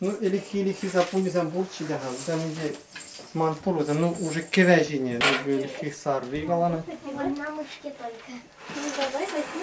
Ну, ӗлӗкхи-ӗлӗкхи саппунӗсем пулчӗ те-ха, вӗсем ӗнтӗ ман пулӑсем, ну, уже кӗве ҫине, ӗлӗкхи сарри каланӑ. Мамочки только. Ну, давай возьми.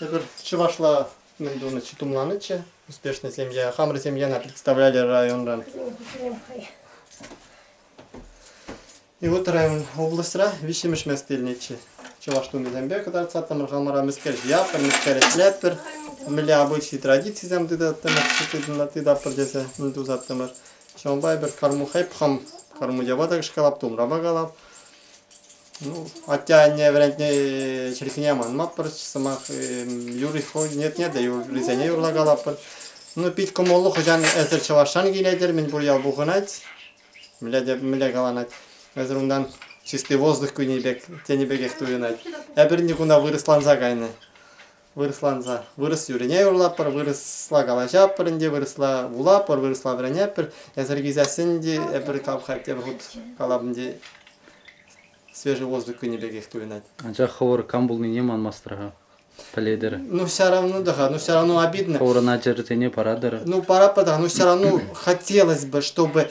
Эпир чӑвашла мӗн тунӑччӗ, тумланӑччӗ. Успешная семья. Хамӑр семьяна представляли районран. И вот район облаҫра виҫҫӗмӗш мест илнӗччӗ. Чӑваш тунисемпе кӑтартсаттӑмӑр хамӑра мӗскер ҫияттӑр, мӗскер ӗҫлеттӗр. Мӗнле обычаи традицисем тытаттӑмӑр, тытаттӑмӑр тесе мӗн тусаттӑмӑр. Ҫавӑнпа эпир кармух эп хам кармуҫапа та кӑшкалап, тумрапа калап. Ну, атте-анне вӗрентни чӗлхине манмаппӑр сӑмах. Юри хӑйнетне те юррисене юрлакалаппӑр. Ну, пит кӑмӑллӑ хӑҫан эсир чӑвашран килетӗр, мӗнпур ял пухӑнать. Мӗнле те мӗнле каланать. Эсир унтан чистый воздух кӳнӗ пек, тенӗ пекех туйӑнать. Эпир никуна вырӑсланса кайнӑ. вырӑсланса вырӑс юрине юрлатпӑр, вырӑсла калаҫатпӑр ӗнтӗ, вырӑсла вулатпӑр, вырӑсла вӗренетпӗр. Эсир килсессӗн те эпир кам-ха тепӗр хут калапӑн те свежий воздух кӳнӗ пекех туйӑнать. Анчах хӑвӑр кам пулнине манмастӑр-ха, пӗлетӗр. Ну все равно да, ну все равно обидно. Хӑвӑрӑн ачӑрсене паратӑр. Ну паратпӑр та, ну все равно хотелось бы, чтобы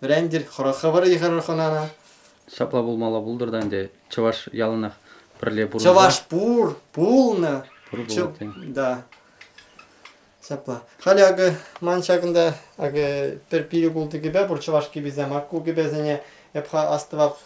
Вӗрентӗр, хӑрӑххӑ вӑрӑ йыхӑрӑр хӑнана. Ҫапла пулмалла пултӑр та ӗнтӗ чӑваш яланах пӗрле пурӑнса. Чӑваш пур, пулнӑ. Пур пулать те. Да. Ҫапла. Халӗ акӑ ман ҫакӑнта акӑ пӗр пилӗк ултӑ кӗпе пур чӑваш кӗписем. Ку кӗпесене эп-ха астӑвах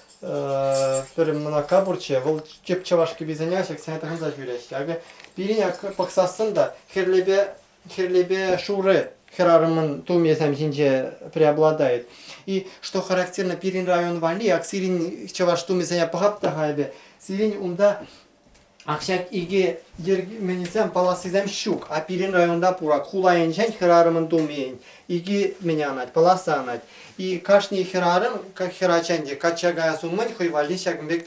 пӗр мӑнака пурччӗ. Вӑл тӗп чӑваш кӗписене ҫаксене тӑхӑнса ҫӳреҫҫӗ. Акӑ пирӗн пӑхсассӑн та хӗрлепе Хӗрлепе шурӑ хӗрарӑмӑн тумӗсем ҫинче преобладает. И что характерно, пирӗн район валли, ак сирӗн чӑваш тумӗсене пӑхап та-ха эпӗ, сирӗн унта ак ҫак икӗ йӗркеменӗсем, палассисем ҫук, а пирӗн районта пурак. Хула енчен хӗрарӑмӑн тумӗ икӗ мӗн анать, паласа анать. И кашни хӗрарӑм, как хӗрачан те, качча каяс умӗн хӑй валли ҫакӑн пек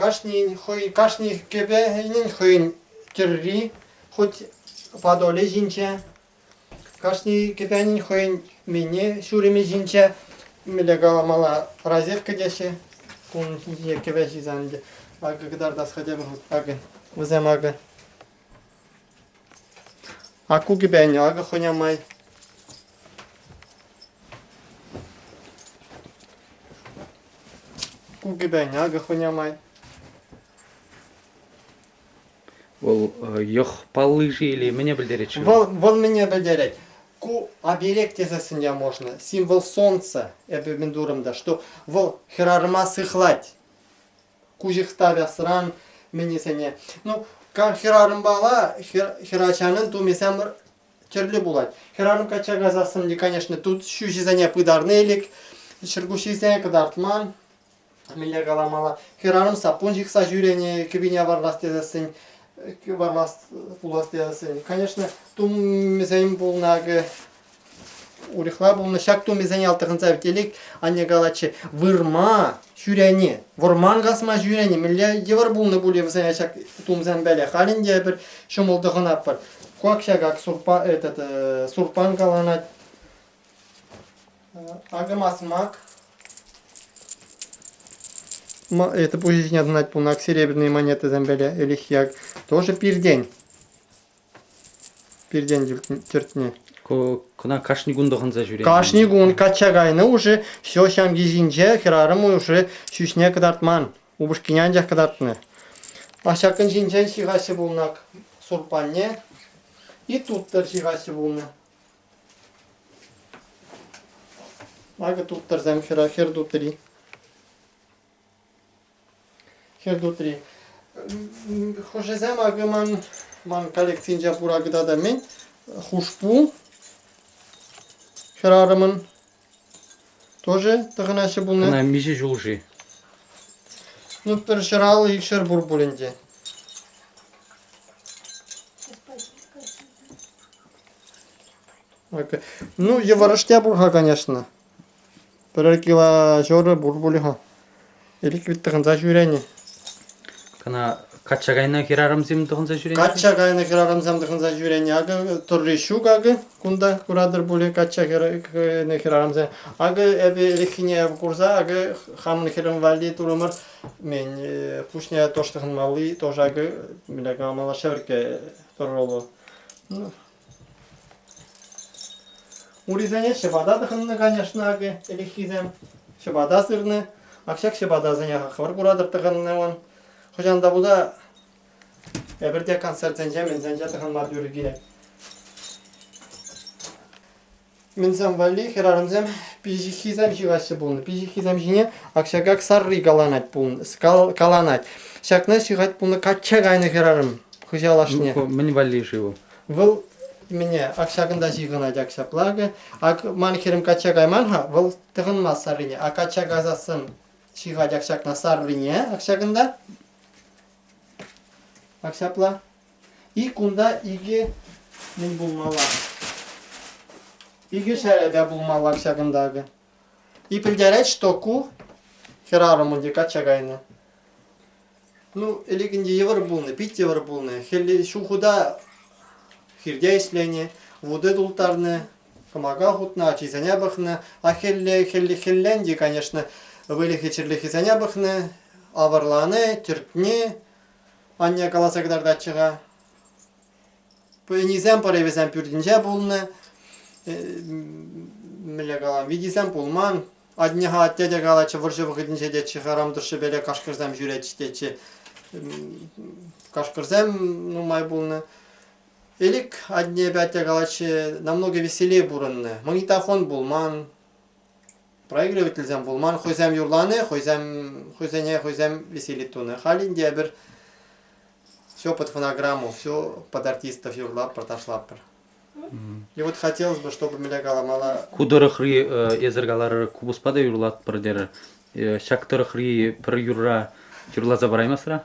Кашнин хӑй кашни кӗпенин хӑйӗн тӗрри хуть Подолӗ ҫинче, кашни кӗпенин хӑйӗн мини ҫурӑмӗ ҫинче мӗнле каламалла розетка теҫҫӗ. Кун ҫинче кӗвӗ ҫисан ӗнтӗ акӑ кӑтартас хӑтем акӑ вӗсем акӑ Аку кӗпен акӑ хӑня май. Ку кӗпен акӑ хӑня май. Вӑл йӑх палли или мӗне пӗлтерет-ши? Вӑл, вӑл мӗне пӗлтерет? Ку объект тесессӗн я можно, символ солнца, эпӗ мӗн турӑм та, что вӑл хӗрарӑма сыхлать. куҫӑхта вясран мӗнесене. Ну, хӗрарӑмпала хӗрачанӑн тумӗсем тӗрлӗ пулать. Хӗрарӑм качча кайсассӑн, конечно, тут ҫӳҫӗсене пытарнӑ элек, чӗркуҫҫисене кӑтартман. Мӗнле каламалла, хӗрарӑм саппун ҫыхса ҫӳренӗ, кӗпине варлас тесессӗн, варлас пулас тесессӗн. Конечно, тумӗсем пулнӑ акӑ Урӑхла пулнӑ, ҫак тумӗсене алтӑхӑнса телек анне калатчӗ, вырма ҫӳрени, вӑрман касма ҫӳрени мӗнле йывӑр пулнӑ пулӗ вӗсене ҫак тумсем валли. Халӗ ӗнтӗ эпир ҫӑмӑл тӑхӑнатпӑр. Куак ҫакак сурпа этот э, сурпан каланать. Э, акӑ масмак. Это пуҫ ҫине тӑнать пулнӑ, серебряные монетӑсем валли. Ӗлӗк yak тоже пиртен. Пиртен тӗртнӗ. Кӑна кашни кун тӑхӑнса ҫӳрет. Кашни кун качча кайнӑ хушӑ ҫул ҫамки ҫинче хӗрарӑм хушӑ ҫӳҫне кӑтартман, упӑшкине анчах кӑтартнӑ. Аҫакӑн ҫинчен ҫыхаҫҫӗ пулнӑ сурпанне, и туттӑр ҫыхаҫҫӗ пулнӑ. Акӑ туттӑрсем хӗр туттӑри. хӗр тутри. Хӑшӗсем акӑ ман ман коллекцинче пура кӑтартамен хушпу хӗрарӑмӑн тоже тӑхӑнаҫҫӗ пулнӑ. Ӑна миҫе ҫул-ши? Ну, пӗр ҫӗр аллӑ, икшер пур пуль ӗнтӗ. Ну, йывӑрӑш те пур-ха, конечно. Пӗр килоҫурӑ пур пулӗ-ха. Ирӗк вӗт тӑхӑнса ҫӳренӗ. Кӑна качча кайнӑ хӗрарӑмсем тӑхӑнса ҫӳренӗ? Качча кайнӑ хӗрарӑмсем тӑхӑнса ҫӳренӗ. Акӑ Турри ҫук акӑ. Кунта куратӑр пулӗ качча кайнӑ хӗрарӑмсем. Акӑ эпӗ ирӗкхине курса акӑ хамӑн хӗрӗм валли турӑмӑр. Мен пуҫне тӑш тӑхӑнмалли тоже акӑ малашне ырккӑ тӑрӑлу. Ну. Урисене ҫӑпата тӑхӑннӑ, конечно, акӑ, ӗлӗкхисем. Ҫӑпата сырнӑ. Ак ҫак ҫӑпатасене хӑвӑр куратӑр тӑхӑннӑван. Хӑҫан та пулса эпир те концертсенче, мӗнсенче тӑхӑнма тӳр килет. Мӗнсем валли хӗрарӑмсем пиҫиххисем ҫыхаҫҫӗ пулнӑ. Пиҫиххисем ҫине ак-ҫакак сарри каланать пулнӑ, кал- каланать. Ҫакна ҫыхать пулнӑ качча кайнӑ хӗрарӑм хыҫал ашне. Ку мӗн валли-ши ку? Вӑл мӗне ак ҫакӑнта ҫыхӑнать ак ҫапла акӑ. Ак ман хӗрӗм качча кайман-ха, вӑл тӑхӑнмасть саррине. А качча касассӑн ҫыхать ак ҫакна саррине ак ҫакӑнта. Ак ҫапла. Ик кунта икӗ мӗн пулмалла? Икӗ ҫӗрӗпе пулмалла ҫакӑнта акӑ. И пӗлтерет, что ку хӗрарӑмӑн те качча кайнӑ. Ну, ӗлекенте йывӑр пулнӑ, пит йывӑр пулнӑ. Хӗлле ҫухӑта хирте ӗҫленӗ, вуте тултарнӑ, кӑмака хутнӑ, ачисене пӑхнӑ. А хӗлле, хӗлле, хӗлленте, конечно, выльӑхӗ-чӗрлӗхӗсене пӑхнӑ, авӑрланӑ, тӗртнӗ, Анне каласа кӑтартатчӗ-ха. Пенисем, поревӗсем пӳртӗнче пулнӑ. Мӗнле калам, витисем пулман. Атне-ха атте те калатчӗ, вӑрҫӑ вӑхӑтӗнче тетчӗ храм тӑршшӗпеле кашкӑрсем ҫӳретчӗ тетчӗ. Кашкӑрсем нумай пулнӑ. Элик атнепе атте калатчӗ, намного веселее пурӑннӑ. Магнитофон пулман. Производительсем пулман, хӑйсем юрлани, хӑйсем, хӑйсене хӑйсем веселить тунӑ. Халь ӗнтӗ эпир все под фонограмму, все под артистов юрлатпӑр, ташлатпӑр. И вот хотелось бы, чтобы меня каламала. Ку тӑрӑхри эсӗр каларӑр купӑспа та юрлатпӑр терӗр. Ҫак тӑрӑхри пӗр юрра юрласа параймасра?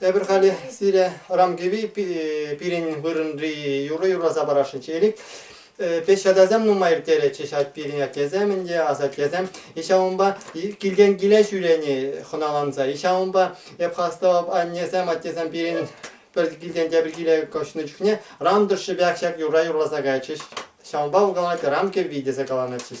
Эпир халӗ сире Рамкиви пирӗн вырӑнри юрӑ юрласа парасшӑнччӗ. Пӗҫ ачасем нумай ирттеретчӗҫ ать пирӗн аттесем ӗнтӗ, асаттесем. Иҫа унпа килтен киле ҫӳрени хӑналанса. Иҫа унпа эп хастав аннесем, аттесем пирӗн пӗр килтен тепӗр киле кӑшнӑ чухне Рандушҫӑпех ҫак юрра юрласа кайчӗҫ. Ҫавӑнпа каланать рамки витӗсе каланатчӗҫ.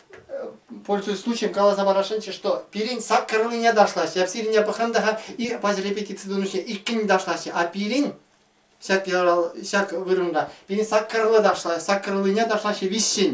пользуясь случаем, каласа парасшӑнччӗ, что пирӗн саккӑрлине ташлаҫҫӗ, эп сирине пӑхрӑм та и паҫӑр репетици турнирне иккӗн ташлаҫҫӗ, а пирӗн ҫак ҫак вырӑнра пирӗн саккӑрлы ташла, саккӑрлине ташлаҫҫӗ виҫҫӗн.